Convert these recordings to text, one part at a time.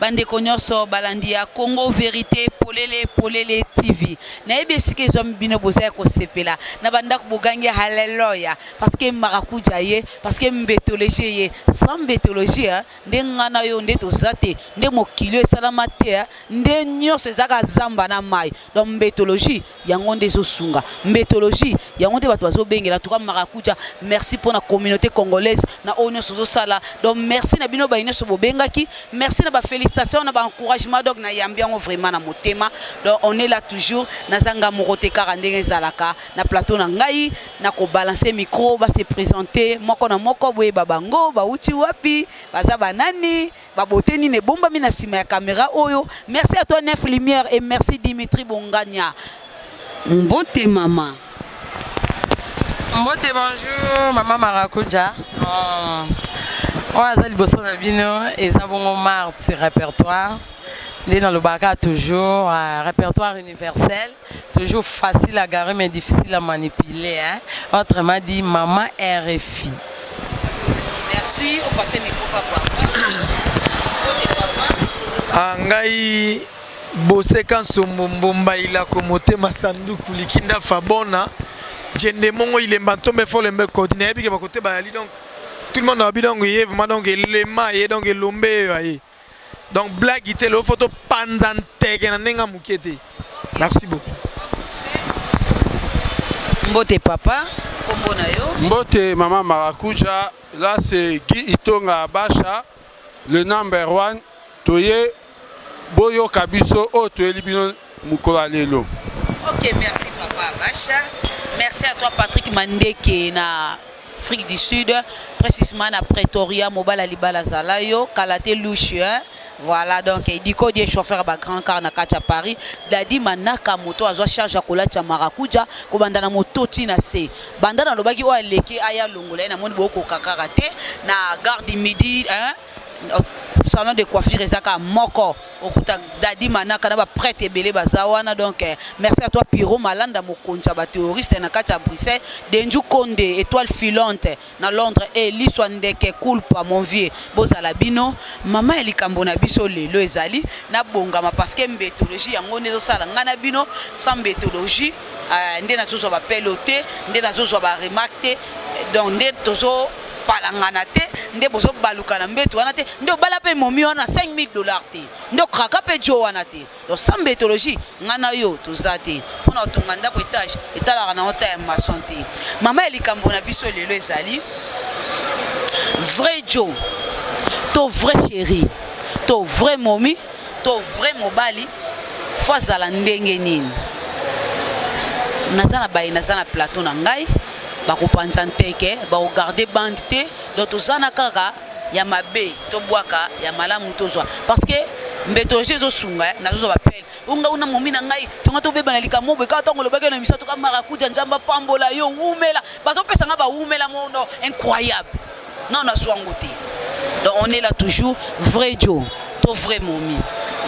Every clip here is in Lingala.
bandeko nyonso balandi ya congo verité polele polele tv nayebi esika ezwami bino boza ya kosepela na bandako bogangi haleloya parceke marakuja ye parceke mbetologie ye sans mbetologie eh, nde nga na yo nde toza te nde mokili oyo esalama te eh, nde nyonso ezalaka zamba na mai donc mbetologie yango nde ezosunga mbetologie yango nde bato bazobengela tuka marakuja merci mpo na communauté congolaise na oyo nyonso ozosala donc merci na bino bayi nyonso bobengaki merci na bafélicitation na baencouragement donc nayambi yango vraiment na motema donc on est là toujours naza nga moko te kaka ndenge ezalaka na plateau na ngai na kobalanse micro base présente moko na moko boyeba bango bauti wapi baza banani Ba beauté nini ebombami na sima ya camera oyo. Merci à toi Neuf Lumière et merci Dimitri Bongania. Mbote mama. Mbote bonjour mama Marakuja. Oh. oyo aza liboso na bino eza bongo marte repertoire nde nalobaka toujours uh, repertoire universel Toujours facile à garer mais difficile à manipuler. Hein? Autrement dit, maman RFI. Merci, on passe le micro papa. Ah, ngai boseka nsombo mbomba ilako motema sanduku likinda fabona jende mongo ilemba ntombe folembe koti nayebi ke bakoteba yali donc tout le monde abi donc ye vraiment donc elema ye donc elombe eyo aye donc blague te lelo fo topanza nteke na ndenge ya moke te merci beaucoup mbote papa kombo na yo mbote mama marakuja là c'est guy itonga basha le number one toye boyoka biso oyo toyeli bino mokolo ya lelo ok merci papa basha merci à toi patrick mandeke na afrique du sud précisément na pretoria mobala libala zala yo kala te lushe hein? voilà donc diko die chauffeur ba grand car na kati ya paris dadi manaka moto azwa charge ya kolatya marakuja kobanda na moto ti na se banda nalobaki oyo aleki aya longola ye namoni bokoka kaka te na garde midi hein? salon de coiffure eza kaka moko okuta dadi manaka na baprete ebele baza wana donc eh, merci à toi piro malanda mokonzi ya baterroriste na kati ya bruxelles denju konde étoile filante na londres e eh, liswa ndeke culpa mon vieux bozala bino mama ya likambo na biso lelo ezali nabongama parce que mbetologie yango nde ezosala ngai na bino sans mbetologie euh, nde nazozwa bapelo te nde nazozwa baremarke te donc nde tozo palangana te nde bozobaluka na mbeto wana te nde obala mpe momi wana 5000 dollars te nde okraka mpe jo wana te donc sans mbetologie ngai na yo toza te mpo na kotonga ndako etage etalaka na ota ya mason te mama ya likambo na biso lelo ezali vrai jo to vrai chéri to vrai momi to vrai mobali fo azala ndenge nini naza na baye naza na plateau na ngai bakopanza nteke bakogarde bande te donc toza na kaka ya mabe tobwaka ya malamu tozwa parce que mbetologie ezosunga eh, nazozwa bapele onga una momi na ngai tonga tobeba na likambo boye kaka ntango olobaki na misato ka marakuja nzambe apambola yo wumela bazopesa ngai bawumela mono incroyable Non na zwa ngo te. Donc on est là toujours vrai Joe to vrai momi.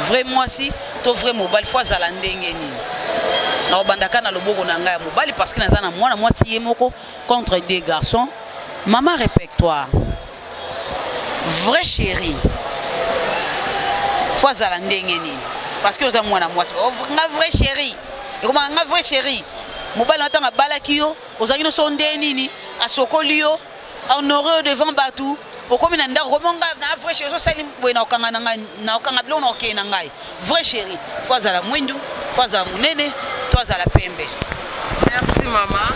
Vrai mwasi to vrai mobali faut azala ndenge nini. Na obandaka na loboko na ngai ya mobali parce que naza na mwana mwasi ye moko contre deux garçons. Maman répète-toi. Vrai chérie. Faut azala ndenge nini. Parce que oza mwana mwasi. Oh, nga vrai chérie. Ekoma nga vrai chérie. mobali na ntango abalaki yo ozalaki nyonso nde nini asokoli yo honoreux devant batu okomi na ndako komi nga na vrai chéri osali boye na okanga na ngai na okanga biloko na okei na ngai vrai chéri fo azala mwindu fo azala monene to azala pembe merci mama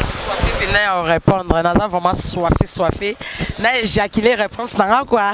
soife mpenza ya orépondre naza vraiment soife soife na éjaculer réponse na nga kua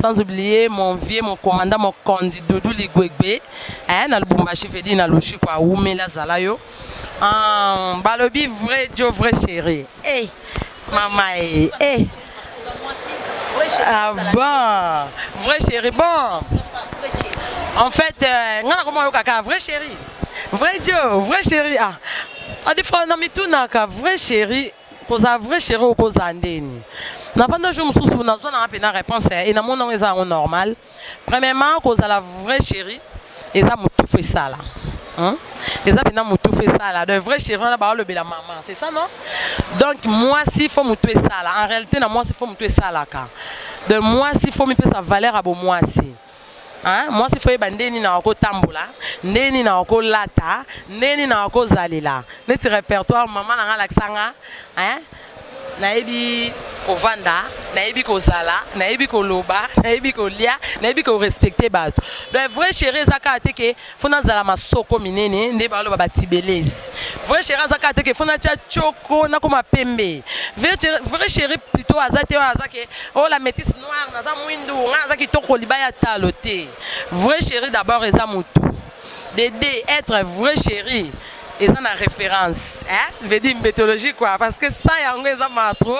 sans oublier mon vieux mon commandant mon kondi doudou ligwegbe eh, na lubumbashi vedi na loshiko awumela azala yo ah, balobi vrai jo vrai chéri hey, eh, mama e eh, eh. ah bon vrai chéri bon en fait euh, nga nakoma oyokaka vrai chéri vrai jo vrai chéri ah adi fo na mitunaka vrai chéri kozala vrai chéri okozala ndeni nafanda jour mosusu nazwa nanga mpena réponse ya e namona yango eza yango normal premièrement kozala vrai chéri eza motufu esala Hein? eza mpena motufu esala donc vrai chéri wana baolobela mama c'est ça non donc mwasi fo motu esala en réalité na mwasi fo motu esalaka donc mwasi fo mipesa valeur ya bomwasi Hein? mwasi fo yeba nde nini akotambola nde nini akolata nde nini akozalela neti répertoire mama na ngai alakisa nga hein? nayebi kovanda nayebi kozala nayebi koloba nayebi kolia nayebi korespecte bato donc vrai chéri eza kaka te ke fo nazala masoko minene nde baloba batibelesi vrai chéri aza kaka te ke fo natya tioko nakoma pembe vrai chéri plutôt aza te oyo aza ke o oh, la métisse noire naza mwindu ngai naza kitoko libaya talo te vrai chéri d'abord eza motu dede être vrai chéri eza na référence hein? veut dire mythologie quoi parce que ça yango eza ma trop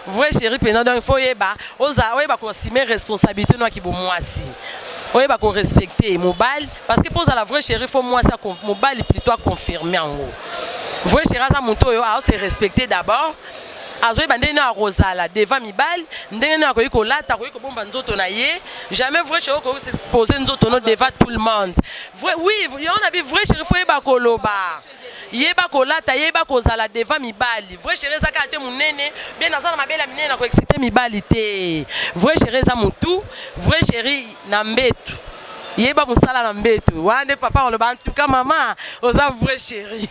vrai chéri mpenza donc il faut oyeba oza oyeba kosime responsabilité noaki bomwasi oyeba korespecte mobali parce que mpo ozala vrai chéri fo mwasi mobali plutôt aconfirme yango vrai chéri aza moto oyo aose respecte d'abord azoyeba ndenge nini akozala devant mibali ndenge nini akoki kolata akoki kobomba nzoto na ye jamais vrai chéri okoki s'expose nzoto no devant tout le monde Vrai, oui, yango na bi vrai chéri fo yeba koloba yeba kolata yeba kozala devant mibali vrai chéri eza kaka te monene bie naza na mabele ya minene na koexcite mibali te vrai chéri eza motu vrai chéri na mbetu yeba mosala na mbetu wana nde papa oloba en tout cas mama oza vrai chéri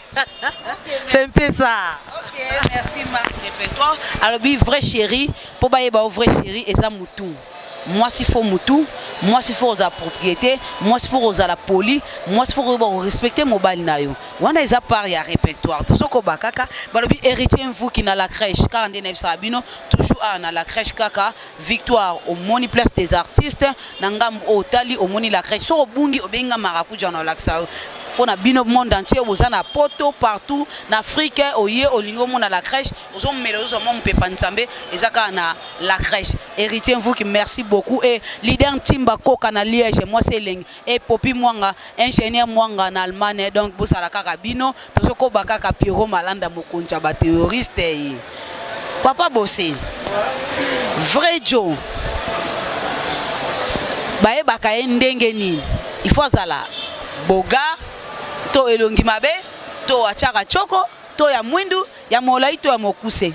c'est mpe ça okay, merci max de toi alobi vrai chéri mpo bayeba o vrai chéri eza motu mwasi fo mutu mwasi fo kozala propriété mwasi fo kozala poli mwasi fo koyeba korespecte mobali na yo wana eza part ya répertoire tozokoba kaka balobi héritier mvuki na la crèche kaka nde nayebisaka bino toujours awa na la crèche kaka victoire omoni place des artistes na ngambo oyo otali omoni la crèche soki obungi obengi nga marakuja na olakisa yo mpo na bino monde entier boza na poto partout na afrique oye olingi omona la crèche ozo mela ozo mwa mupepa nzambe eza kaka na la crèche héritier mvuki merci beaucoup et leader ntimba koka na liège mwasi elengi et popi mwanga ingénieur mwanga na allemagne donc bosala kaka bino tozokoba kaka piero malanda mokonzi ya baterroriste ye eh. papa bose vrai jo bayebaka ye ndenge nini il faut azala bogar to elongi mabe to atyaka coko to ya mwindu Ya molai to ya mokuse?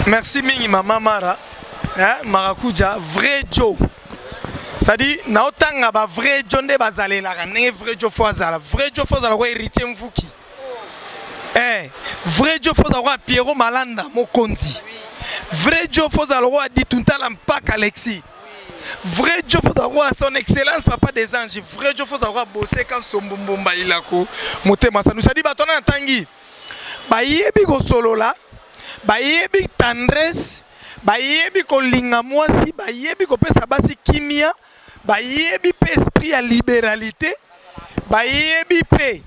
Merci mingi mama Mara. Hein, Marakuja, vrai Joe. C'est-à-dire, naotanga ba vrai Joe nde bazalelaka ndenge vrai Joe fo azala. Vrai Joe fo azala ko héritier Mvuki. Eh, vrai Joe fo azala ko Pierrot Malanda mokonzi. Vrai Joe fo azala ko Dituntala mpaka Alexis. vrai jof ozakuwa son excellence papa des anges vrai jof ozakuwa boseka nsombo mbumba ilako motema sanu sadi bato wana natangi bayebi kosolola bayebi tendresse bayebi kolinga mwasi bayebi kopesa basi kimia bayebi mpe esprit ya liberalité bayebi mpe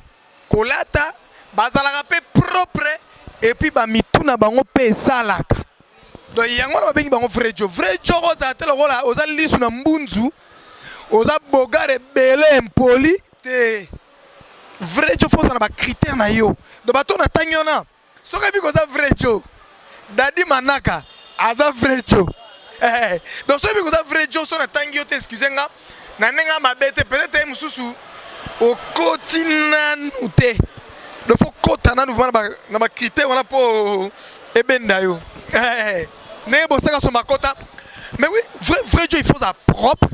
kolata bazalaka pe propre et puis ba mitu na bango pe esalaka donc yango na babengi bango vrai jo vrai jo kozala te lokola oza lisu na mbunzu oza bogar ebele impoli te vrai jo fo ozala na bacritère na yo donc bato na ntangi wana Soki ebi koza vrai Joe, Daddy Manaka aza vrai Joe. Eh, eh. donc soki ebi koza vrai Joe, so natangi yo te excuse nga na ndenge ya mabe te, peut-être ye mosusu okoti nanu te. Donc faut kota nanu vraiment na ba critères wana po ebenda yo. Eh, eh. ndenge bosaka so makota. Mais oui, vrai vrai Joe il faut a propre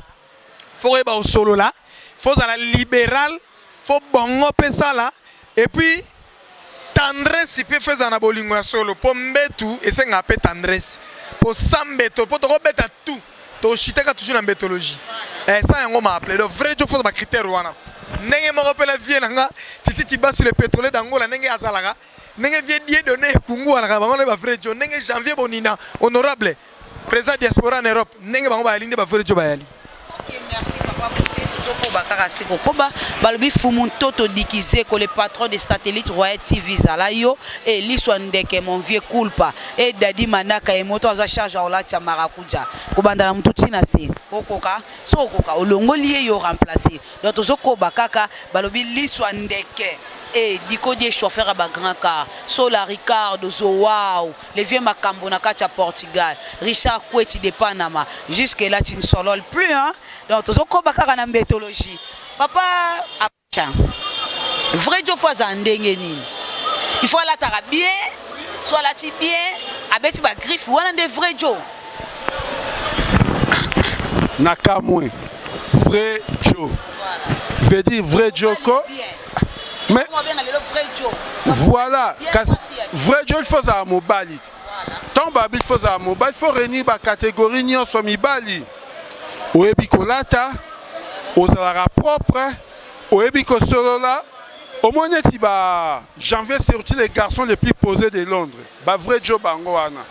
faut oyeba osolola faut ozala libéral faut bongo mpe sala epuis tendresse mpe faut ezala na bolingo ya solo mpo mbetu esengaka mpe tendresse mpo sa mbeto mpo tokobeta tout toshitaka toujours na mbetologie eh, sa yango maaple donc vrai jo faut ozala bacritère wana ndenge moko mpe na vie na nga tititi basule pétrole dangola ndenge azalaka ndenge vie die donne ekunguanaka bango nde bavrai jo ndenge janvier bonina honorable président diaspora en europe ndenge bango bayali nde bavrai jo bayali tozokoba kaka se kokoba balobi fumu ntoto dikizeko le patron de satellite royal tv zala yo e liswa ndeke mon vieux culpa e dadi manaka ye moto aza charge aolatia marakuja kobanda na motu ntina se okoka so okoka olongoli ye yo remplace donc tozokoba kaka balobi liswa ndeke e dikodie chauffeur ya bagrand car sola ricardo zowau le vieux makambo na kati ya portugal richard kweti de panama jusque là tu ne solole plus hein? donc tozokoba kaka na mbetologie papa acha vrai jofo azala ndenge nini il faut alataka bien so alati bien abeti bagriffe wana nde vrai jo na kamwe vrai Joe veut dire vrai Joko mais voilà vrai Joe il faut ozala mobali ntango babi il faut ozala mobali il faut réunir bacatégorie nyonso mibali oyebi kolata ozalaka propre oyebi kosolola omoni neti ba janvier surtout les garçons les plus posés de londres ba vrai djo bango wana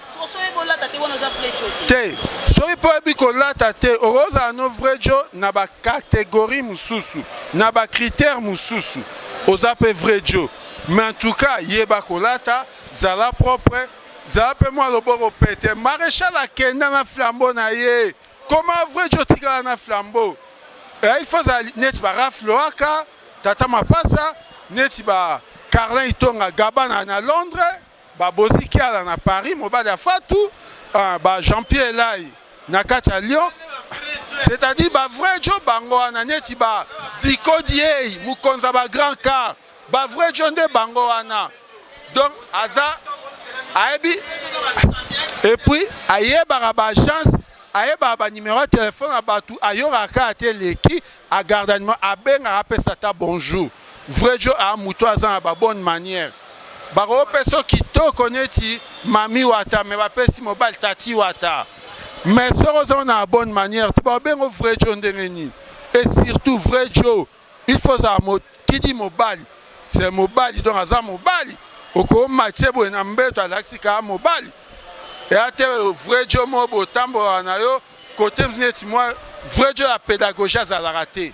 te soki mpo oyebi kolata te okozala no vrai djo na bacatégorie mosusu na bacritère mosusu oza mpe vrai djo mais en tout cas yeba kolata zala propre zala mpe mwa loboko pete maréchal akenda na flambo na ye Comment vrai Joe tika na flambeau eh, il faut azala neti ba Ralph Loaka tata mapasa neti ba Carlin Itonga Gabana na Londres ba Bozi Kiala na Paris mobali ya Fatou ah, ba Jean-Pierre Elai na kati ya Lyon c'est-à-dire ba vrai Joe bango wana neti ba Diko Diei mokonza ba grand car Ba vrai djo nde bango wana. Donc aza ayebi et puis ayebaka ba agence ayebaka ba numéro ya telefone ya bato ayokaka kaka te eleki agarda numéro abengaka apesa ata bonjour vrai jo a moto aza na babonne manière bakopesa kitoko neti mami wata me bapesi mobali tati wata mais soki ozango na bonne manière te bakobengo vrai jo ndenge nini et surtout vrai jo Il faut ozala mo kidi mobali c'est mobali donc aza mobali okomatise boye na mbeto alakisi kaka mobali eya te vrai jo mo botambolaka na yo kote mzi neti mwa vrai jo ya pédagogie azalaka te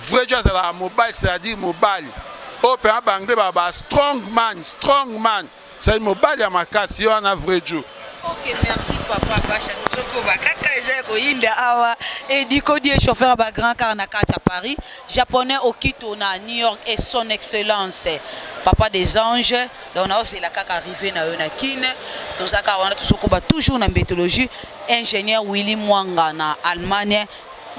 vrai jo azalaka mobali c'est-à-dire mobali oyo mpenza banglais baba strong man strong man Sai mobali ya makasi yo wana vrai Dieu. Ok, merci papa Basha tozokoba kaka eza ya koyinda awa ediko die chauffeur ba grand car na kati ya Paris japonais okito na New York et son excellence papa des anges donc naozela kaka arrivé na yo na Kin tozaka wana tozokoba toujours na mbetologie ingénieur Willy Mwanga na Allemagne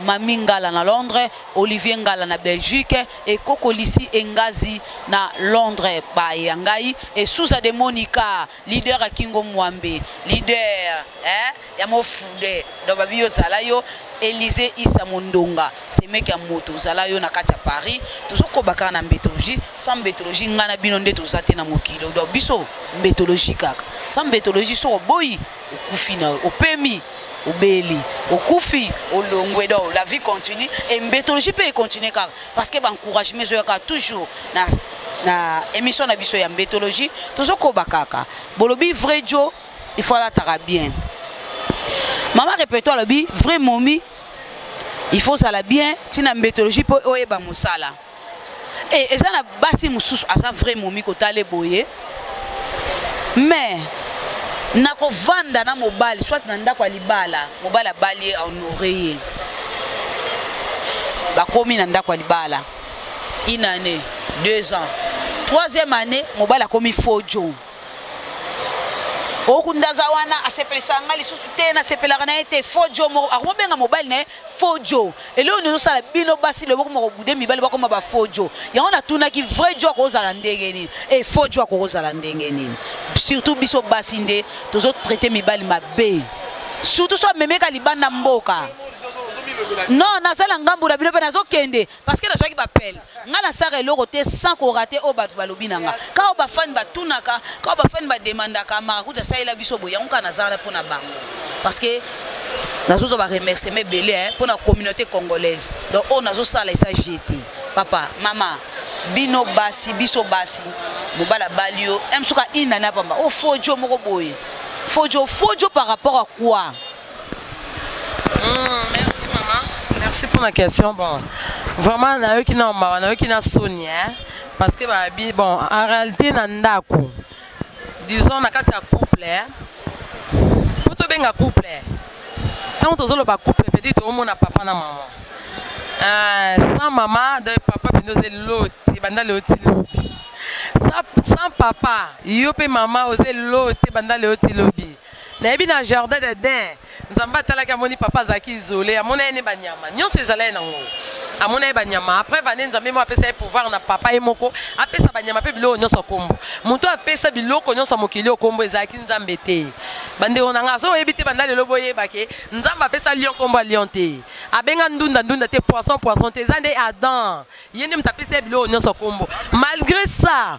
Mami Ngala na Londres Olivier Ngala na Belgique Ekokolisi engazi na Londres baye ya ngai e Sousa de Monica leader ya Kingo Mwambe leader eh, ya mofude donc babi yo zala yo Elise Issa Mondonga semeki ya moto zala yo na kati ya Paris tozokoba kaka na mbetologie sans mbetologie ngai na bino nde toza te na mokili donc biso mbetologie kaka sans mbetologie soko boyi okufi na opemi obeli okufi olongwe donc la vie continue et mbetologie mpe econtinue kaka parce que baencouragement ezoya kaka toujours na, na émission na biso ya mbetologie tozokoba kaka bolobi vrai jo il faut alataka bien mama repeto alobi vrai momi il faut ozala bien ntina mbetologie mpo oyeba mosala Eh, eza na basi mosusu aza vrai momi kotala eboye mais nakovanda na mobali soit na ndako ya libala mobali abali ye ahonore ye bakomi na ndako ya libala une année deux ans troisième année mobali akomi fojo okunda aza wana asepelisa ngai lisusu te nasepelaka na ye te fojo akomobenga mobali na ye faux jo eloko nini ezosala bino basi lelo bokoma kobude mibali bakoma ba faux jo yango natunaki vrai jo akozala ndenge nini e faux jo akozala ndenge nini surtout biso basi nde tozotraite mibali mabe surtout so amemeka libanda mboka non nazala ngambo na bino mpe nazokende parce que nazwaki bapele ngai nasaka eloko te sans korate oyo bato balobi na nga kao bafani batunaka kao bafani bademandaka marakuta asalela biso boye yango kaka nazala mpo na bango parce que nazozwa baremerciement ebele mpo na communauté congolaise donc oyo nazosala esa je te papa mama bino basi biso basi mobali abali yo m soki ainani apamba o oh, fojo moko boye fojo fojo par rapport à quoi merci pour la question bon vraiment nayoki na mawa nayoki na soni hein parce que babi bon en réalité na ndako disons na kati ya couple hein. po tobenga couple ntango tozoloba couple vedi toomona papa na mama euh, sans mama de papa mpenza oza eloti banda leo ti lobi sans papa yo mpe mama oza eloti banda leo ti lobi nayebi na jardin de den nzambe atalaki amoni papa azalaki isole amona ye ne banyama nyonso ezala ye nango amona ye banyama après vane nzambe moko apesa ye pouvoir na papa ye moko apesa banyama mpe biloko nyonso nkombo moto apesa biloko nyonso ya mokili oyo nkombo ezalaki nzambe te bandeko na ngai azoyebi te banda lelo boyeba ke nzambe apesa lion nkombo ya lion te abenga ndunda ndunda te poisson poisson te eza nde adam ye nde moto apesa ye biloko nyonso nkombo malgré ça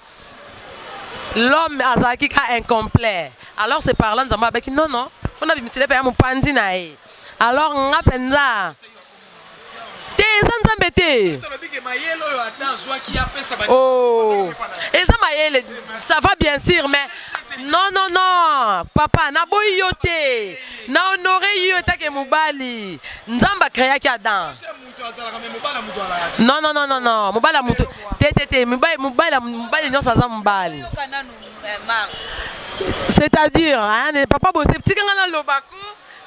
l'homme azalaki ka incomplet alors c'est parlant nzambe abaki non non fo nabimisela mpe ya mopanzi na ye alors nga mpenza te eza nzambe te oh. eza mayele ça va bien sûr mais non non non papa naboyi yo te na honore yo etake mobali nzambe akreaki adam non non non non non mobali ya moto te te te mobali mobali mobali nyonso aza mobali c'est-à-dire hein, papa bose tika nga naloba ko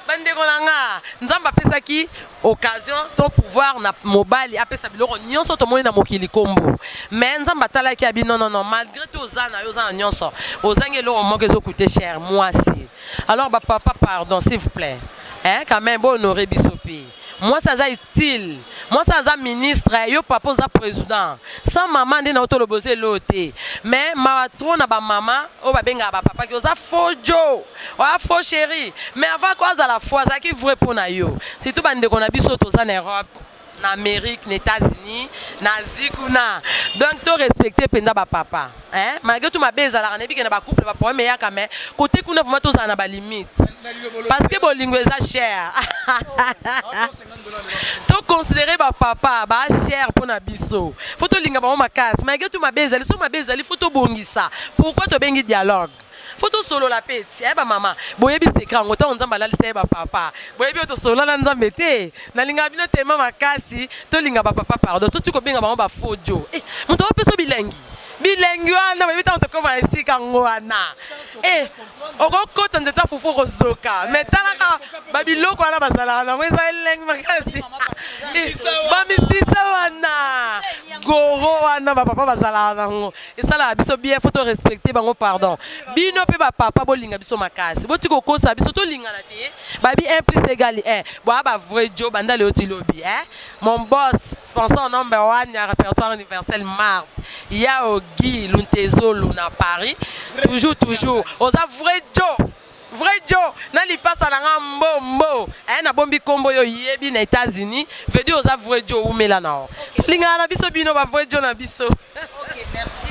bandeko na nga nzambe apesaki occasion to pouvoir na mobali apesa biloko nyonso tomoni na mokili kombo mais nzambe atalaki abi non non non malgré tout oza na yo oza na nyonso ozangi eloko moko ezokute cher mwasi alors bapapa pardon s'il vous plaît hein, quand même bohonore biso mpe Mwasi aza utile, mwasi aza ministre, yo papa oza president. Sans maman nde nao toloba oza eloo te. Mais mawa trop na ba maman oyo babengaka ba papa ki oza faux jo, oa faux chéri. Mais avant ko azala faux azalaki vrai mpo na yo. Surtout ba ndeko na biso toza na Europe, na Amerique, na Etats-Unis, na Asie kuna. Donc to respecter mpenza ba papa. Hein, malgré tout mabe ezalaka nayebi ke na ba couple ba problème eyaka mais côté kuna vraiment tozala na ba limite parce que bolingo eza cher to considérer ba papa ba cher mpo na biso fo tolinga bango makasi malgré tout mabe ezali soki mabe ezali fo tobongisa pourquoi tobengi dialogue Faut tosolola pe ti eh, ba mama boyebi secret yango ntango nzambe alalisa ye bapapa boyebi oyo tosolola na nzambe te nalingaka bino tema makasi tolinga bapapa pardon toti kobenga bango bafodio eh, moto aopeso bilengi bilengi wana boyebi ntango tokoma esika yango wana eh, okokota nzete ya fufu okozoka me talaka babiloko wana bazalaka nango eza elengi makasi eh, bamisisa wana goro wana bapapa bazalaka nango esalaka biso bien faut to respecter bango pardon bino pe ba papa bolinga biso makasi boti kokosa biso tolingana te eh. babi 1 plus égal 1 boa ba vrai jo banda leo ti lobi eh? mon boss sponsor number 1 ya répertoire universel mart yao guy luntezolo na paris toujours toujours oza vrai jo Vrai Djo na lipasa na nga mbo mbo eh, na bombi kombo yo yebi na Etats-Unis veut oza vrai Djo umela na o tolingana na biso bino ba vrai Djo na biso okay, merci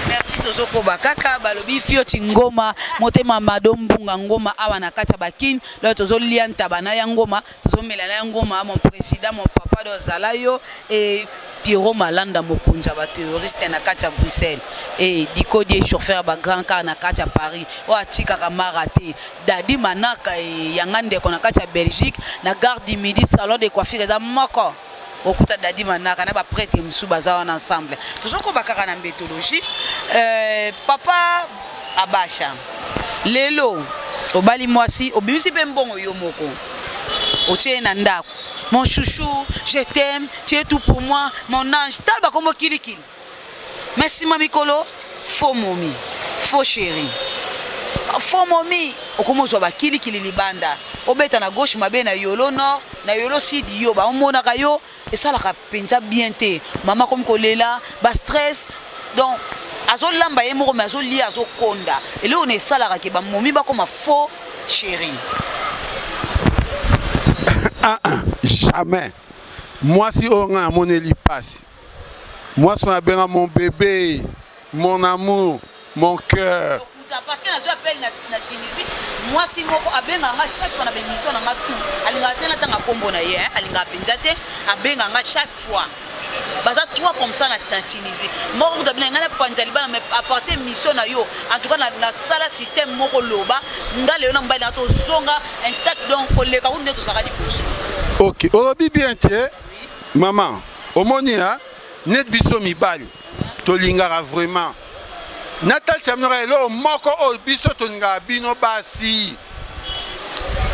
merci tozokoba kaka balobi fio chingoma motema mado mbunga ngoma awa na kati ya bakine lelo tozolia ntaba na ya ngoma Tozomela na ngoma mon président mon papa do zala yo et Pierrot Malanda mokonzi ya ba terroriste na kati ya Bruxelles et Diko die chauffeur ba grand car na kati ya Paris oyo atikaka mara te Dadi Manaka e yanga ndeko na kati ya Belgique na gare du Midi salon de coiffure eza moko okuta dadi manaka na baprete mosusu baza wana ensemble tozokoba kaka na mbetologie euh, papa abasha lelo obali mwasi obimisi mpe mbongo yo moko otie ye na ndako mon chouchou je t'aime tu es tout pour moi mon ange tala bakombo kilikili mais sima mikolo faux momi faux chéri faux momi okomi ozwa bakilikili libanda obeta na gauche mabe na yolo nord na yolo sud yo baomonaka yo esalaka mpenza bien te mama akomi kolela bastress donc azolamba ye moko me azolia azokonda eloko na esalaka ke bamomi bakoma faux chéri ah, ah, jamais mwasi oyo ngai amoneli mpasi Mwasi na benga mon bébé, mon amour, mon cœur. parce que nazwi appel na, na tunisie mwasi moko abengaka nga chaque fois na bémission na nga tout alingaka te natanga nkombo na ye alingaka mpenza te abengaka nga chaque fois baza trois comme ça na, na tunisie moko kuta bina ngai napanza libala mais apartir mission na yo en tout cas nasala système moko loba ngai leyo na mobali na tozonga intact donc koleka kutu nde tozalaka liboso ok olobi bien te Maman, omoni hein? Net biso mibali tolingaka vraiment natalisa bino kaka eloko moko oyo biso tolingaka bino basi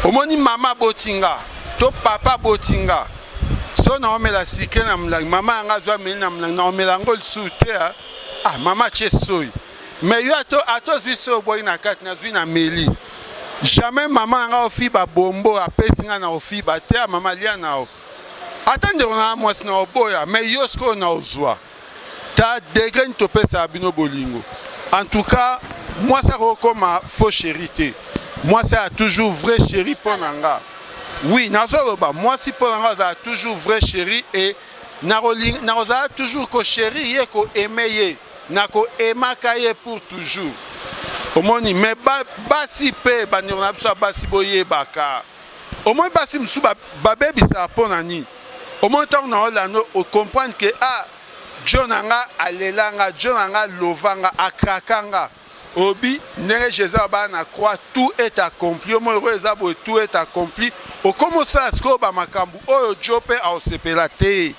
omoni mama aboti nga to papa aboti nga so naomela sikle na molangi mama yanga azwa ameli na molangi naomela yango lisusu te ah mama atye soyi mais yo ata ozwi soyi obwaki na kati nazwi na meli jamais mama yanga ofiba bombo apesi nga na ofiba te ah, mama lia na yo Ata ndeko na mwasi na oboya mais yo sikoyo na ozwa ta degre nini topesaka bino bolingo en tout cas mwasi akokoma faux chéri te mwasi aya toujours vrai chéri mpo na nga oui nazoloba mwasi mpo na nga azala toujours vrai chéri e nakozala toujours ko chéri ye ko aime ye nako aimaka ye pour toujours omoni mais basi mpe bandeko na biso ya basi boyebaka Omoni basi mosusu babebisa mpo na nini? Omoni ntango na olando ocomprendre ke a ah, jo na nga alela nga, jo na nga lova nga, akraka nga. Obi ndenge Jésus abaa na croix, tout est accompli. Omoni oyo eza boye, tout est accompli. Okomi osala sikoyo ba makambo oyo jo mpe aosepela te.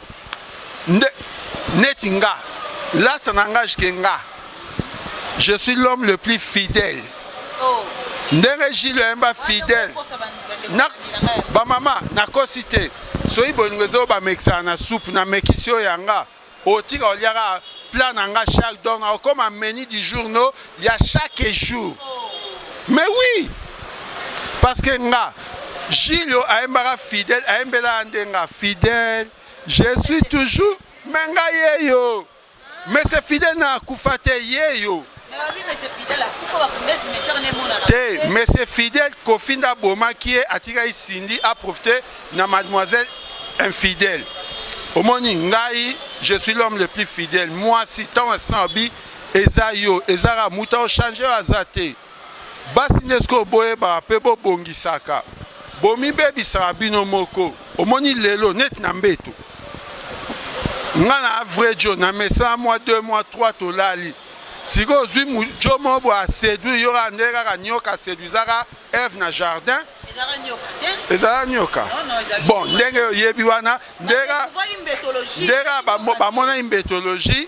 Nde neti nga, lasa na nga jike nga. Je suis l'homme le plus fidèle. Oh. ndenge jile oyemba fidèle bamama nakosi te soki bolingo ezo bamekisaka na soupe namekisi yo yanga otika oliaka plat na nga chaque donc nakokoma menu du jour no ya chaque jour mais oui parce que nga jile oyo ayembaka fidèle ayembelaka nde nga fidèle je suis toujours me nga ye yo Monsieur Fidel na akufa te ye yo. Te Monsieur Fidel Kofi nda bomaki ye atikaki Cindy a profiter na mademoiselle infidèle. Omoni ngai je suis l'homme le plus fidèle. Moi si tant asina obi eza yo ezaka muta o changer aza te. Basi nde sikoyo boyebaka mpe bobongisaka, bomibebisaka bino moko. Omoni lelo neti na mbeto, nga na vrai jo na mesana mwa 2 mwa 3 tolali sikoyo ozwi jo moko boye aseduire yo kaka ndenge kaka nyoka aseduizaka eve na jardin ezala nyoka bon ndenge oyebi wana ndenge kaka bamonaki mbetologie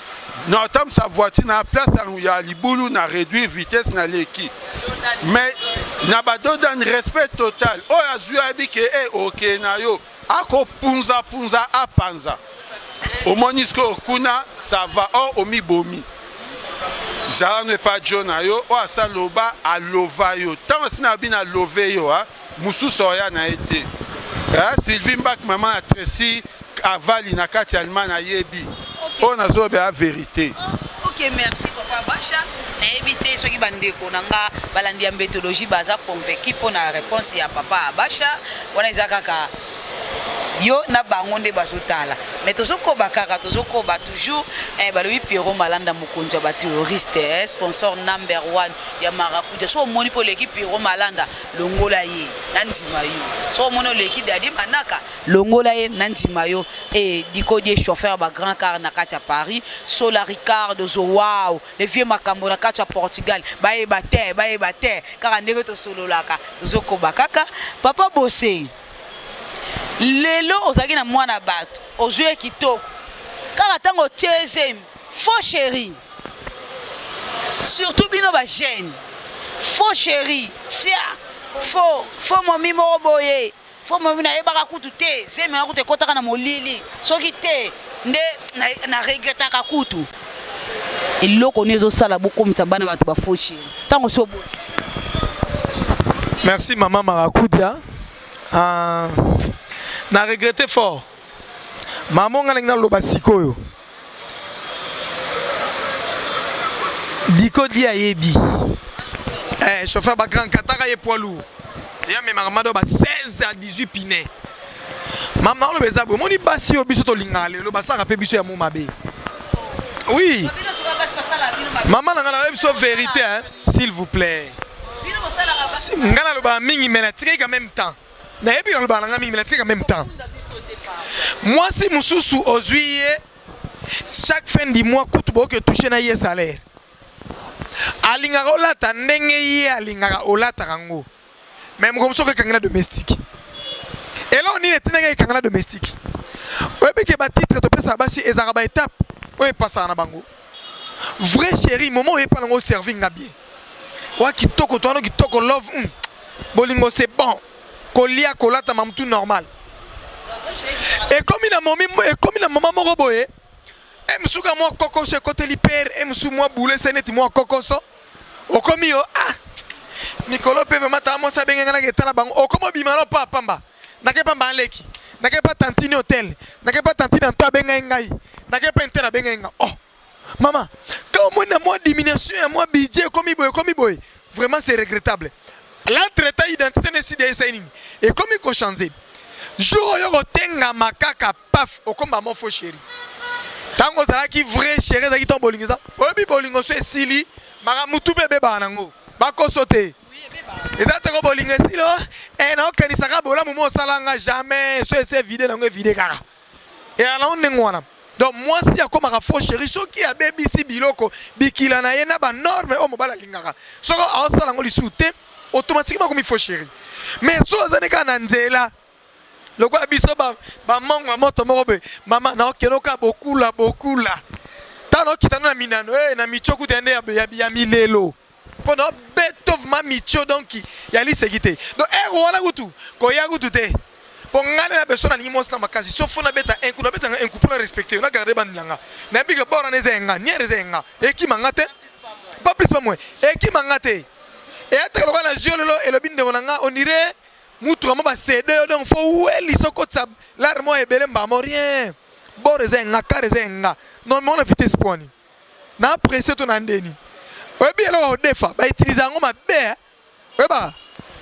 na otambwisa voiture na place ya libulu na réduire vitesse na leki mais na badodani respect total oyo azwi ayebi ke e oke na yo akopunzapunza apanza omoni sikoyo kuna sava or omibomi zala no epa jo na yo oyo asaloba alova yo ntango asina abi na love yo a Mususu oya na ye te. Eh, Sylvie Mbak maman ya Tracy avali na kati ya Allemagne ayebi. Oyo nazoloba ya verite. Oh, ok, merci papa Basha. nayebi te soki bandeko na nga balandi ya mbetologie baza convaincu mpo na réponse ya papa abasha wana eza kaka yo na bango nde bazotala mais tozokoba kaka tozokoba toujours eh, balobi piero malanda mokonzi ya baterroriste eh, sponsor number one ya marakuja so omoni mpo oleki piero malanda longola ye na ndima yo soki omoni oleki dadi manaka longola ye na ndima yo e eh, dikodie chauffeur ba grand car na kati ya paris sola ricardo zowao le vieux makambo na kati ya portugal bayeba te bayeba te kaka ndenge tosololaka tozokoba kaka papa bose lelo ozalaki na mwana bato ozwi ye kitoko kaka ntango otie zemi Faux chéri. Surtout bino ba jeunes. Faux chéri. Sia. Faux. Faux momi moko boye. Faux momi na yebaka kutu te. Zemi na kutu ekotaka na molili. Soki te nde na, na regrettaka kutu. eloko nini ezosala bokomisa bana bato bafaux chéri ntango osi obotisa merci mama marakudia uh, ah, na regrette fort mama onga ndenge naloba sikoyo Diko di ayebi. Eh, chauffeur ba grand kataka ye poids lourd. Ya memaka mado ba 16 à 18 pine. Mama oloba eza boye omoni basi oyo biso tolingaka lelo basalaka mpe biso ya mo mabe. Oui. Mama na ngai nayebi biso verite hein, s'il vous plaît. Ngai nalobaka mingi mais natikaki quand même temps. nayebi nalobaka na ngai mingi natika meme temps mwasi mosusu ozwi ye chaque fin du mois kutu boyoki etouche na ye salaire alingaka olata ndenge ye alingaka olataka yango me moko mosusu okekangi na domestique eloko nini etindaki ekanga na domestique oyebi ke batitre topesaka basi ezalaka baetape oyo epasaka na bango Vrai chéri momo oyepa nango serving nga bien. Wa kitoko toano kitoko love. Mm. Bolingo c'est bon. Kolia kolata mamutu normal. Ekomi na momi ekomi na mama moko boye. E musuka mwa kokoso ekoteli père e musu mwa boule se neti mwa kokoso. Okomi yo ah. Mikolo pe vraiment ta mwa sa benga nga na ketala bango. Okomo bima no pa pamba. nake pa mbala leki nake pa tantine hotel nake pa tantine anto abengai ngai nake pa intel abengai ngai oh mama ka omoni na mwa diminution ya mwa budget ekomi boye ekomi boye vraiment c'est regrettable la traita identité na esida esai nini ekomi kochange jour oyo kotengama kaka paf okomba mofo sheri ntango ozalaki vrai sheri ezalaki ntango bolingo eza oyebi bolingo so esili makambo tu mpe ebebaka nango bakoso te eza toko bolingo esilo e eh, naokenisaka bolamu mo osala nga jamais so ese vide nango evide kaka eyanango ndenge wana donc mwasi akomaka faux chéri soki abebisi biloko bikila na ye na banorme oyo mobali alingaka soki aosala yango lisusu te automatiquement akomi faux chéri mais so ozali kaka na nzela lokola biso bamongo ya moto moko boye mama naokenoka bokula bokula ntango naokitana na minano e eh, na micokuta nde ya milelo mpo na beto vma micho donc ya liseki te donc ere eh, wana kutu koya kutu te mpo ngai na beso nalingi mwasi na makasi so fo nabeta enku nabetanga enku mpo na respecte yo na garde bandi na nga nayebi ke bor wana eza ya nga niere eza ya nga ekima nga te pas plus pas moins ekima nga te eyataka lokola na jeu lelo elobi ndeko na nga onire mutuka mo basede yo donc fo weli sokotisa lare mo ebele mbamo rien bor eza ya nga kare eza ya nga non mona vitesse pwani na presse to na ndeni oyebi eloko odefa ba utiliser yango mabe eh. oyeba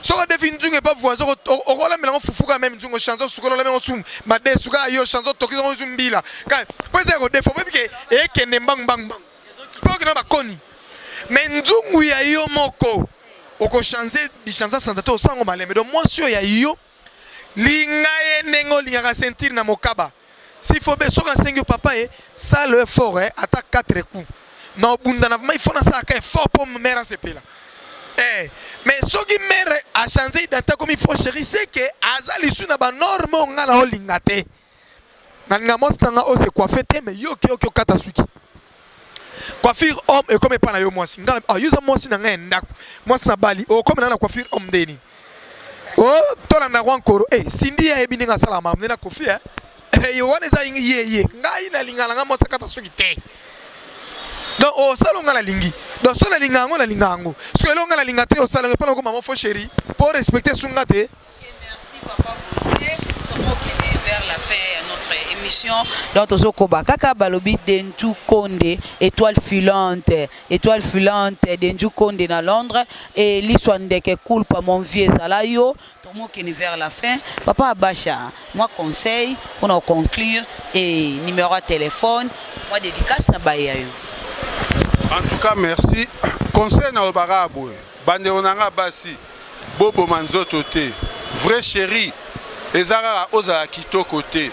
soki odefi nzungu epa voisin okolambela yango fufu kaka meme nzungu chanson sukola olamela yango sumu madesu kaka yo chanson toki yango zu mbila kaka mpo eza ekodefa oyebi ke ekende mbangu mbangu mbangu mpo okenda bakoni me nzungu ya yo moko okochange bichanza sanza te osango malembe donc mwasi oyo ya yo Linga ye ndenge olingaka ceinture na mokaba. S'il faut be soka sengi papa e ça le fort eh ata 4 coups. Na obunda na vraiment il faut na saka effort pour mère sepela. Eh mais soki mère a changer identité comme il faut chérie c'est que azali sous na ba normes ngala olingate. nalinga mwasi na nga oyo se coiffe te mais yo oke oke okata suki coiffure homme ekomi epai na yo mwasi nga ah, yo oza mwasi na ngai ya ndako mwasi na bali okomi na na coiffure homme nde nini o oh, tolanda yango ankoro e eh, sindi ayebi ndenge asala mamu nde na kofi e eh. yo wana eza ye ye ngai nalinga na ngai mwasi akata suki te donc osala oh, nga nalingi donc so nalinga yango nalinga yango soki elonga nalinga te osala epai na okoma mofo chéri mpo respecte sunga te émission donc tozokoba kaka balobi denju konde étoile filante étoile filante denju konde na londres e liswa ndeke kulpa mon vieux ezala yo tomokeni vers la fin papa abasha mwa conseil mpona koconclure e numéro ya telefone mwa dédicace na baye ya yo en tout cas merci conseil nalobaka boye bandeko na nga basi Boboma nzoto te vrai cherie eza kaka ozala kitoko te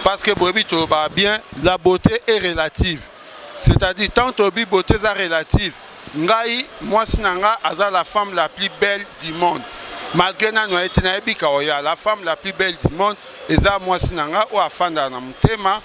parce que boyebi tolobaka bien la beauté est relative c'est à dire tant toyebi beauté eza relative ngai mwasi na nga aza la femme la plus belle du monde malgré nanu aye te nayebi kaoya la femme la plus belle du monde eza mwasi na nga oyo afandaka na motema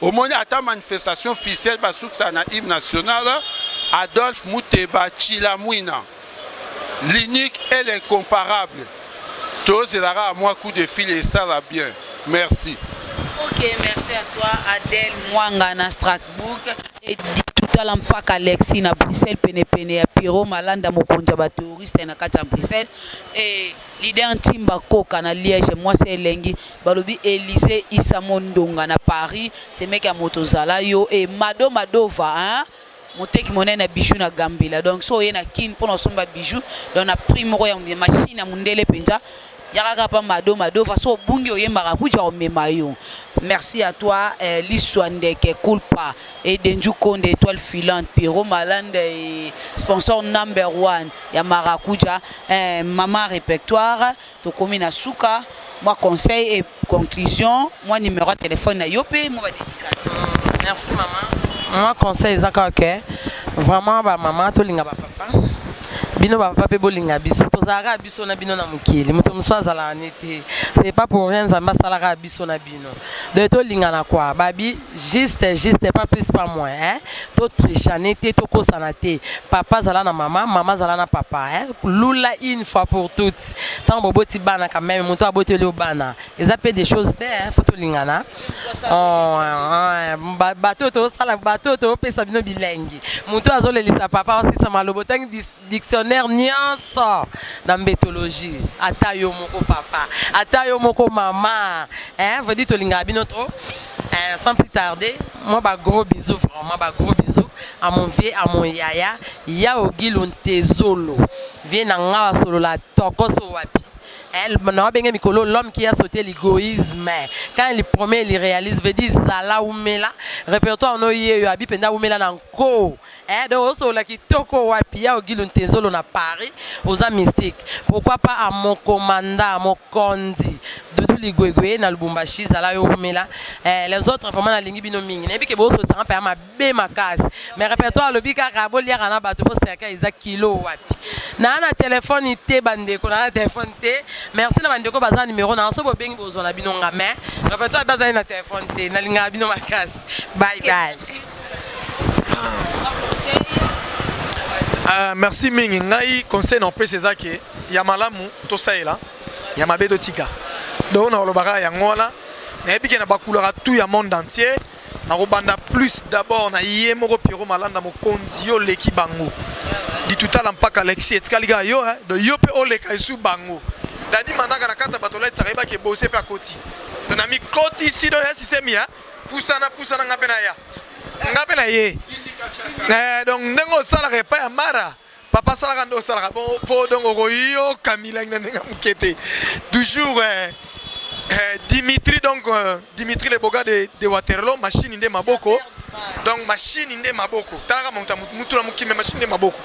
Omoni ata manifestation officielle basukisa na hymne national Adolphe Muteba Chilamwina l'unique et l'incomparable tozela kaka mwa coup de fil esala bien merci ok merci à toi Adèle Mwanga na Strasbourg et totala mpaka alexi na bruxelles penepene ya pierrot malanda mokonzi ya bateroriste na kati ya bruxelles e Leader Ntimba Koka na Liège mwasi ya elengi balobi Elise Issa Mondonga na Paris semeki ya moto zala yo e Mado Madova hein? moteki monene ya bijou na Gambela donc so oye na Kin mpo na osomba bijou donc na prix moko ya machine ya mondele mpenza yaka kapa mado mado façon obungi oyembaka kuja omema yo merci à toi eh, liswa ndeke kulpa et denju konde étoile filante pierrot malanda et sponsor number one ya marakuja eh, mama repertoire tokomi na suka mwa conseil et conclusion mwa numéro ya telefone na yo mpe mwa badédicace mm, merci mama mwa conseil eza kaka ke vraiment bamama tolinga bapapa bino bapapa mpe bolinga biso tozalaka biso na bino na mokili moto mosusu azalaka ne te c'est pas pour rien nzambe asalaka biso na bino bino donc tolingana kua babi juste juste pas plus pas moins hein? totrichane te tokosana te papa azala na mama mama azala na papa hein? lula une fois pour toutes ntango boboti bana quand même moto aboteli yo bana eza mpe des choses te hein? fo tolingana oh, bato oyo tosala bato oyo topesa bino bilengi moto azolelisa papa osisa maloba otangi dictionnaire nyonso na mbetologie ata yo moko papa ata yo moko mama eh, vedi tolingaka bino trop eh, sans plus tarder moi ba gros bisous vraiment ba gros bisous à mon vieux à mon yaya yao gilo ntezolo vie na nga wasolola tokoso wapi eh, na wabenge mikolo l'homme qui a sauté l'égoïsme quand il promet il réalise veut dire zala umela répertoire no yeyo abi mpenza umela na nko Eh donc osolola kitoko wapi ya ogilu ntezolo na paris oza mystique pourquoi pas a mon commandant mokonzi dudu ligwegwe na lubumbashi zala yo wumela eh, les autres vraiment nalingi bino mingi nayebi ke bosolosanga mpe ya mabe makasi mais répertoire alobi kaka boliaka na bato boserka eza kilo wapi naa na telefone te bandeko naa na telefone te merci na bandeko baza na numero naa so bobengi bozwa na bino nga mais répertoire bazali na telefone te nalingaka bino makasi bye bye Uh, merci mingi ngai conseil na opesa eza ke ya malamu tosalela ya mabe totika donc nakolobaka yango wana nayebi ke na bakulaka tout ya monde entier nakobanda plus d'abord na ye moko piero malanda mokonzi yo oleki bango ditutala mpaka alexi etikali kaka yo eh, do yo mpe oleka esu bango dadi manaka na kati ya bato olatisaka yebaki ebose mpe akoti na mikotisi do ya systeme ya pusana pusana nga mpe naya nga mpe na ye eh, donc ndenge osalaka epai ya mara papa asalaka nde osalaka mpo donc okoyoka milangi na ndenge moke te toujours eh, eh, dimitri donc euh, dimitri le boga de, de waterlo mashini nde maboko donc mashini nde maboko talaka moto mutu na mokimbe mashini nde maboko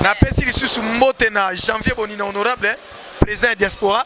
napesi lisusu mbote na janvier bonina honorable eh, président ya diaspora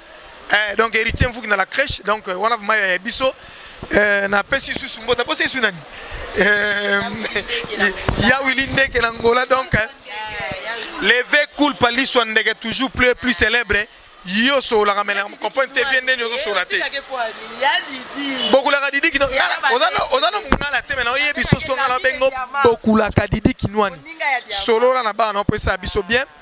Eh, donc héritier mvuki na la crèche donc euh, wana vraiment ya biso euh, napesi susu mbota posa esu nani euh, ya wili ndeke na ngola donc leve culpa liswa ndeke toujours plus plus célèbre yo osololaka mele comprendre te vie ndeni ozosola te bokulaka didi kino oza na mongala te mena oyebi sosi tongala bengo bokulaka didi kinwani solola na bana opesa biso bien mm.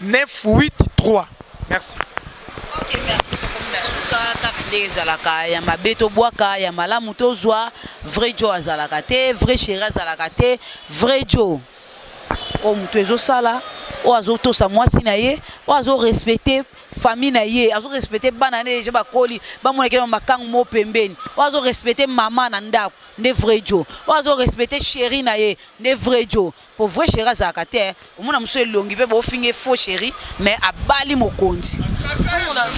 983 merci ok merci tokomi na suka kaka nde ezalaka ya mabe tobwaka ya malamu tozwa vrai jo azalaka te vrai chéri azalaka te vrai jo oyo moto ezosala oyo azotosa mwasi na ye oyo azorespecte famille na ye azorespecte bana na ye deja bakoli bamonaki na makango moko pembeni oyo azorespecte mama na ndako nde vrai jo oyo azorespecte sheri na ye nde vrai jo Po vrai cheri azalaka te omona musu elongi pe bo finge faux cheri mais abali mokonzi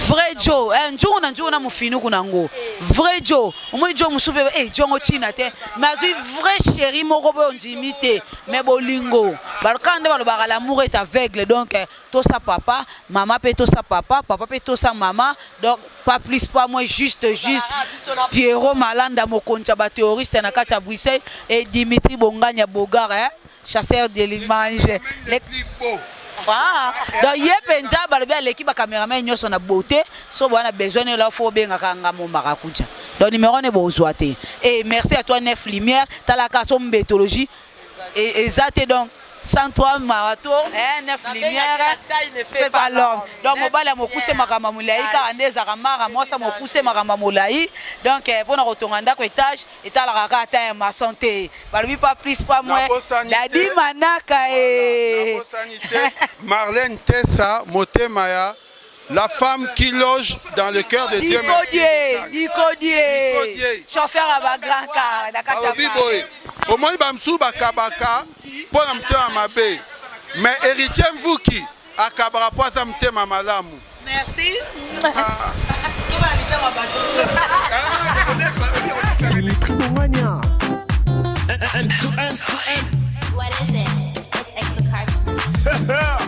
vrai jo eh, nzungu na nzungu na mufinuku na ngo vrai jo omoni jo musu pe eh jongo china te mais azui vrai cheri moko pe ondimi te mais bolingo balokana nde balobaka l'amour est aveugle donc eh, tosa papa mama pe tosa papa papa pe tosa mama donc pas plus pas moins juste juste Pierrot Malanda mokonzi ya bateroriste na kati ya Bruxelles et Dimitri Bonganya Bogar hein? chasseur de l'image le... Ah, donc ye mpenza balobi aleki bacameraman nyonso na beauté so boya na besoin nela fo obengaka nga mo marakuja donc numéro ne bozwa te e merci à toi nef lumière talaka so mbetologie eza te donc 103 mawa to 9 lumière mpe balome donc mobali ya mokuse makambo ya molai kaka nde ezalaka mara mwasi ya mokuse makambo ya molai donc eh, mpo na kotonga ndako etage etalaka kaka ta ya mason te balobi pa plus pa mwe dadi manaka e marlene tesa motema ya La femme qui loge dans le cœur de Dieu. Bikodie, bikodie. Chauffeur à ba grand car na kati ya biboye. Omoni ba msu ba kabaka mpo na mtema mabe. Mais héritier Mvuki akabaka mpo aza mtema malamu. Merci. Ah. Dimitri Bomania. M2M. What is it? It's X the card.